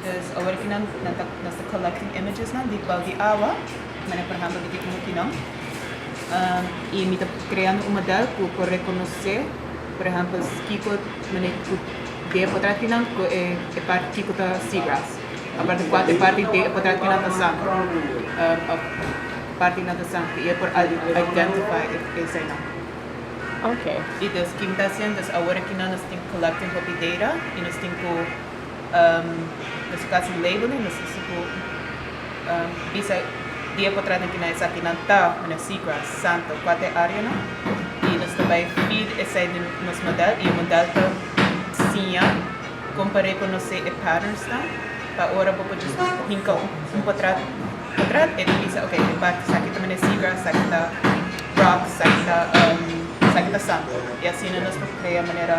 Des awor aki nan nos ta collecting images nan di bal di awa, manera por ehempel di kiko nan tin nan, y mi ta creando un model cu por reconoce por ehempel kiko manera cu den potra tin nan cu e parti kiko ta seagrass, aparte di cual e parti den e potra tin nan ta zand of parti nan ta zand y e por identify esey nan. Y des ki mi ta haciendo, des awor aki nan nos tin collecting hopi data y nos tin cu. Nos a kasi label e nos a suku bisa dia ku atrás di kina esakinan ta, manera seagrass, santo, kuater e áreanan i nos ta bai feed esei den nos modèl i e modèl ta siña kon par'é ku nos e patternsnan pa ora bo por djis hinka un por atrás atrás e ta bisa okay e parti esaki ta manera seagrass esaki ta rocks esaki ta esaki ta santo i asina nos por krea manera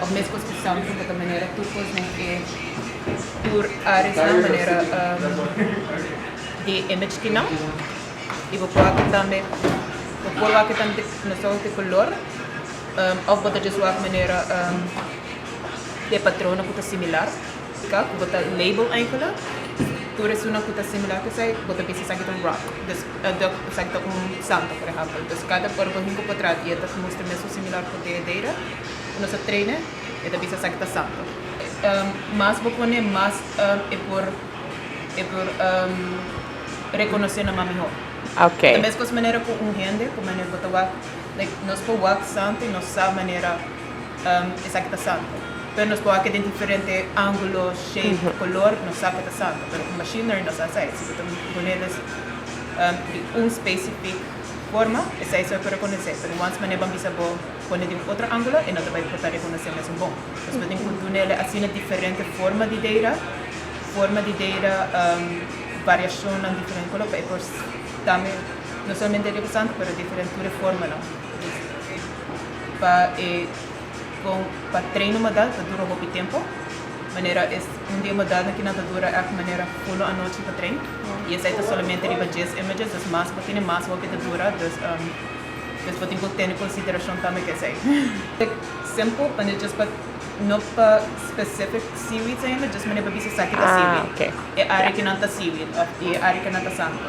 Tok mes cos cu Sam punta ta manera tur cos den e tur aresnan manera di image ki nan y bo por wak tambe bo por wak tambe na soco ki color of bo ta just wak manera di e patronen cu ta similar. Sca cu bo ta label Ancona, tur esunnan cu ta similar cu esai, bo ta bisa esaki ta un rock, dus duck esaki ta un santo, por ehempel. Dus cada ora bo hinca un potrat y e ta mustra mesun similar cu de deira cu nos a traine, e ta bisa esaki ta santo. Mas bo pone, mas e por e por reconoce nan mas mihor. Okay. Ta mescos manera cu un hende cu manera bo ta wak, like nos por wak santo y nos sa manera. esaki ta santo. Pero nos por haki den diferente angulo, shape, color, nos sa cu ta santo. Pero cu machinery nos a sai, si bo ta ponele di un specific forma, esai so e por reconece. Pero wans manera ban bisa bo pone di un otro angulo, e no ta bay por ta reconece mes un bon. Nos por tin cu dunele asina diferente forma di deira, forma di deira, variacionnan diferente color, pa e por tambe no solamente riba santo, pero diferente tur e formanan. Pa e con pa treino modal ta dura hopi tempo manera es un di e modalnan ki nan ta dura echt manera uno anochi pa trein y esai ta solamente riba dies images dus mas bo tene mas hopi ta dura dus dus bo tin cu tene consideracion tambe cu esai. Simple manera just pa no pa specific seaweeds ainda just manera pa bisa esaki ta seaweed e area ki nan ta seaweed of y e area ki nan ta santo.